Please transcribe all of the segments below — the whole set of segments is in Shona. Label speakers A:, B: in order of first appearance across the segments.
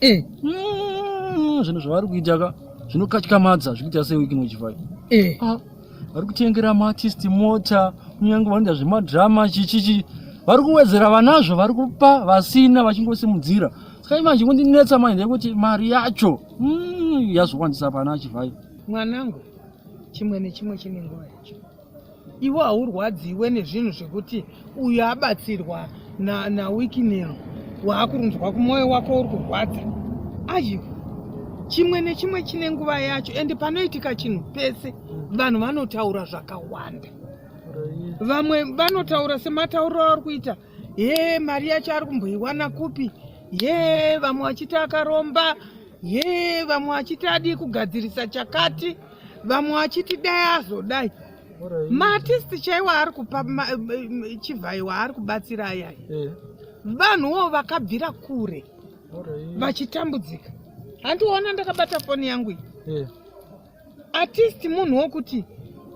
A: eh. mm, zvinhu zvavari kuita ka zvinokatyamadza zvikuita sewiki nochivai eh. ah, vari kutengera maartisti mota kunyange vanoita zvemadrama chichichi vari kuwedzera vanazvo vari kupa vasina vachingosimudzira saka imanje kundinetsa manje ndekuti mari yacho mm, yazowandisa pana chivai mwanangu
B: chimwe nechimwe chine nguva yacho Iwe haurwadziwe nezvinhu zvekuti uyu abatsirwa nawikinero waakurunzwa kumwoyo wako uri kurwadza ayu chimwe nechimwe chine nguva yacho ende panoitika chinhu pese vanhu vanotaura zvakawanda vamwe vanotaura sematauriro avari kuita ye mari yacho ari kumboiwana kupi ye vamwe vachiti akaromba ye vamwe vachiti adii kugadzirisa chakati yeah, vamwe vachiti dai azodai maartisti chaiwo ari kupa chivhaiwa ari kubatsira ayai eh. vanhuwo vakabvira kure vachitambudzika handiona ndakabata foni yangu iyi eh. artist munhu wokuti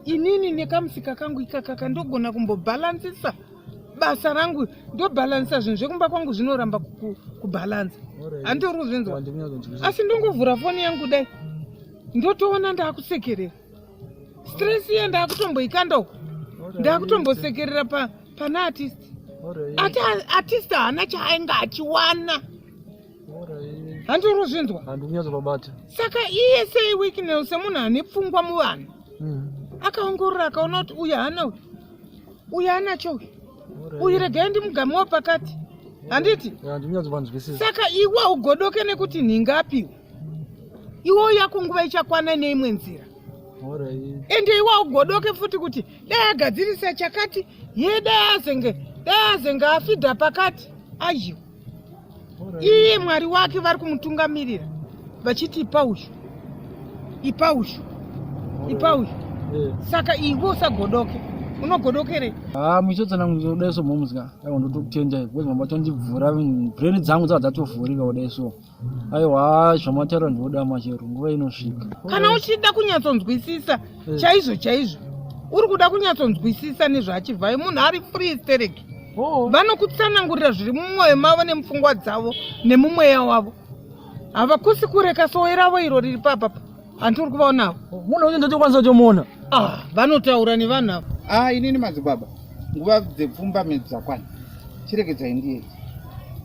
B: inini nekamusika kangu ikakaka ndogona kumbobhalansisa basa rangu ndobhalansisa zvinhu zvekumba kwangu zvinoramba kubhalansa handitori kuzvinzwa asi ndongovhura foni yangu dai ndotoona ndakusekerera stress iye ndakutomboikanda uko ndakutombosekerera pa, pana artist ati artist haana chaainge achiwana handirozvinzwa handikunyazovabata
A: saka iye
B: sei weeknel semunhu ane pfungwa muvanhu hmm. akaongorora akaona kuti uyu haana uyu uyu anacho uyu uyu regai ndimugamewo pakati handiti saka iwe ugodoke nekuti nhinga apiwa iwo yako nguva ichakwana neimwe nzira ende iwa ugodoke futi kuti dai agadzirisa chakati ye dai azenge dai azenge afidha pakati ayiwa iye mwari wake vari kumutungamirira vachiti ipa uyu ipa uyu ipa uyu eh. saka iwe usagodoke unogodokerei ha ah, muchotsana
A: kudai so momuzika ndotokutendai bcause mabachondibvura brain dzangu dzava dzatovhurika kudai so aiwa zvamataura ndinoda machero nguva inosvika kana uchida
B: kunyatsonzwisisa eh. chaizvo chaizvo uri kuda kunyatsonzwisisa nezvaachivhai munhu ari free sterek oh. vanokutsanangurira zviri mumwoyo mavo nemupfungwa dzavo nemumweya wavo havakusi kureka sowe ravo iro riri papapa Anti uri kuvaona avo? Munhu uyu ndotokwanisa
A: kutomuona. Ah, vanotaura
B: nevanhu avo. Ah, inini madzibaba.
C: Nguva dzepfumba midzi dzakwana. Chiregedzai ndiye.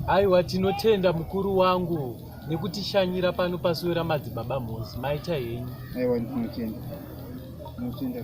C: Aiwa
D: tinotenda mukuru wangu nekutishanyira pano pasuwe ramadzibaba Mhozi.
C: Maita
D: henyu. Aiwa ndinotenda. Ndinotenda.